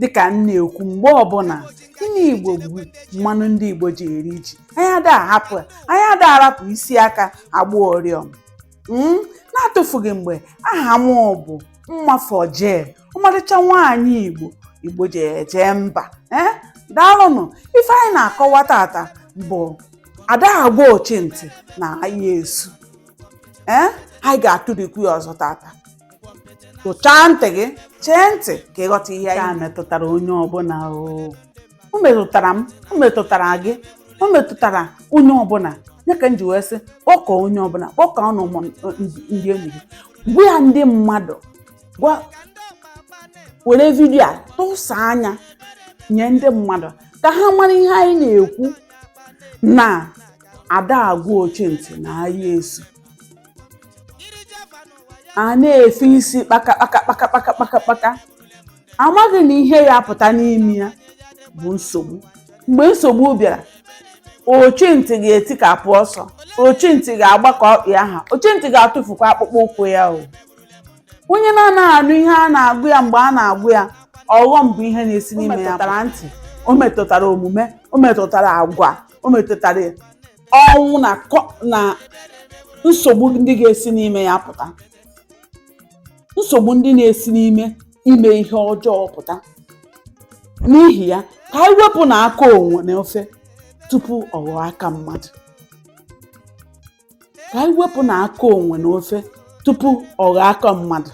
dịkà m na-ekwu mgbe ọbụna inu Igbo bụ mmanụ ndị Igbo ji eri ji anyị ada ahapụ ya anyị ada arapụ isi aka agba oriọm mm? na-atụfughị mgbe aha m bụ mmafọ jee ọmarịcha nwaanyị Igbo Igbo ji eje mba ee eh? daalụnụ ife anyị na-akọwa tata bụ ada agwa ochi ntị na aya esu ee eh? anyị ga-atụrikwu ya ọzọ tata tụchaa ntị gị chee ntị ka ị ghọta ihe a metụtara onye ọbụna o metụtara m o metụtara gị o metụtara onye ọbụna ya ka m ji wee sị kpọkọ onye ọbụna kpọkọ ọnụ ndị enyi gị gwa ya ndị mmadụ were vidio a tụsaa nya nye ndị mmadụ ka ha mara ihe anyị na-ekwu na ada agwa ochi ntị na aya esu a na-efe isi kpaka kpaka kpaka kpaka kpaka kpaka amaghị na ihe ya-apụta n'ime ya bụ nsogbu mgbe nsogbu bịara ochi ntị ga-etikapụ ọsọ ochi ntị ga-agbakọ ọkpị aha ochi ntị ga-atụfukwa akpụkpọ ụkwụ ya o onye na-anaghị anụ ihe a na-agwa ya mgbe a na-agwa ya ọghọm bụ ihe na-esi n'ime ya o metụtara ntị o metụtara omume o metụtara agwa o metụtara ọnwụ na kọ- na nsogbu ndị ga-esi n'ime ya pụta nsogbu ndị na-esi n'ime ime ihe ọjọọ pụta n'ihi ya ka anyị wepụ na aka enwe na ofe tupu ọ ghọọ aka mmadụ ka anyị wepụ na aka enwe na ofe tupu ọ ghọọ aka mmadụ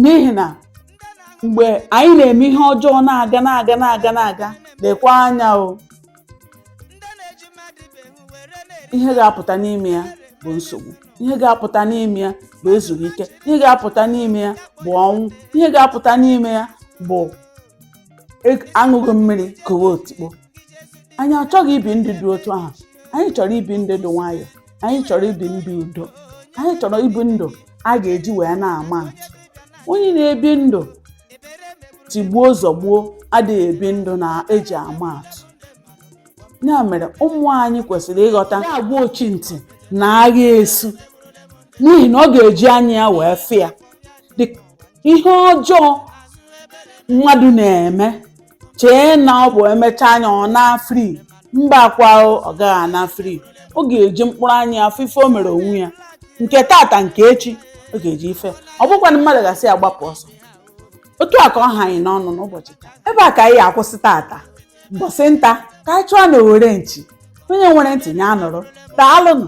n'ihi na mgbe anyị na-eme ihe ọjọọ na-aga na-aga na-aga na-aga lekwa anya o ihe ga-apụta n'ime ya bụ nsogbu ihe ga-apụta n'ime ya bụ ezughị ike ihe ga-apụta n'ime ya bụ ọnwụ ihe ga-apụta n'ime ya bụ e- aṅụghị mmiri kowe otikpo anyị achọghị ibi ndụ dị otu ahụ anyị chọrọ ibi ndụ dị nwayọọ anyị chọrọ ibi ndụ udo anyị chọrọ ibi ndụ a ga-eji wee na-ama atụ onye na-ebi ndụ tigbuo zọgbuo adịghị ebi ndụ e ji ama atụ ya mere ụmụ anyị kwesịrị ịghọta ada agwa ochi ntị na agha esu n'ihi na ọ ga-eji anya ya wee fụ ya ihe ọjọọ mmadụ na-eme chee na ọ bụ emechaa nya ọ naa free mba kwa ọ gaghị ana free ọ ga-eji mkpụrụ anya ya fụ ife o mere onwe ya nke tata nke echi ọ ga-eji ife ọ bụkwanụ mmadụ ga-asị ya gbapụ ọsọ otu a ka ọ ha anyị n'ọnụ n'ụbọchị taa ebe a ka anyị akwụsị tata mbọsị nta ka anyị chụọ na owere nchi onye nwere ntị nya nụrụ daalụnụ